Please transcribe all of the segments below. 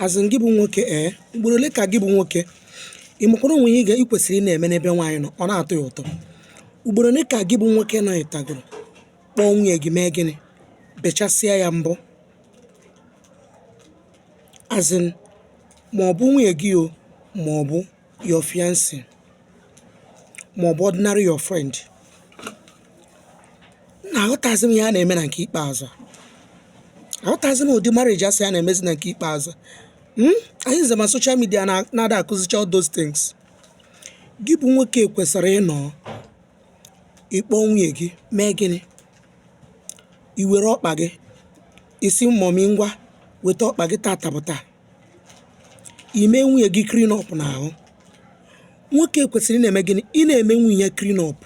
as in gị bụ nwoke ee eh, ugboro ole ka gị bụ nwoke ị makwara o nwe ihe ị kwesịrị ị na-eme n'ebe nwaanyị nọ ọ na-atọ ya ụtọ ugboro ole ka gị bụ nwoke nọ ịtagoro kpọọ nwunye gị mee gịnị bechasịa ya mbọ as in ma ọ bụ nwunye gị o ma ọ bụ your fiancé ma ọ bụ ordinary your friend nna aghọtazi m ihe a na-eme na nke ikpeazụ a. aghọtazi m ụdị marriage a sị a na-emezi na nke ikpeazụ Hmm? anyị nze ma social media na- na-ada akụzicha all those things gị bụ nwoke kwesịrị ịnọ ịkpọ nwunye gị mee gịnị i were ọkpa gị ị sị mọmi ngwa weta ọkpa gị tata bụ taa ime nwunye gị clean up n'ahụ nwoke kwesịrị ị na-eme gịnị ị na-eme nwunye ya clean up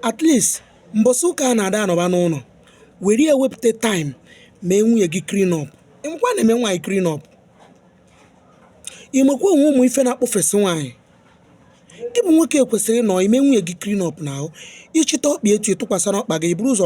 at least mbọsị ụka a na-ada anọba n'ụlọ were ya wepụta time mee nwunye gị clean up ị makwa ị na-eme nwaanyị clean up ị makwa o nwe ụmụ ife na-akpọfesị nwaanyị gị bụ nwoke kwesịrị ịnọ ime nwunye gị clean up n'ahụ ị chịta ọkpa etu ị tụkwasara ọkpa gị buru ụzọ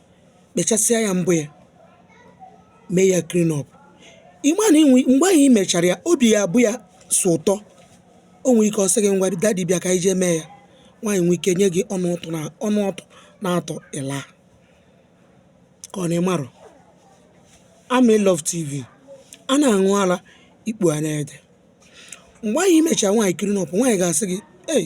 kpechasịa ya mbọ ya mee ya clean up ị ma na mgbe ahụ i mechara ya obi ya abụ ya sọ ụtọ o nwere ike ọ sị gị ngwa dadi bịa ka anyị jee mee ya nwaanyị nwee ike nye gị ọnụ ọtụ na-atọ ịla ka ọ na ị mara Amị Love TV a na-aṅụ ara ikpu a na-ede mgbe ahụ i mechara nwaanyị clean up nwaanyị ga-asị gị ei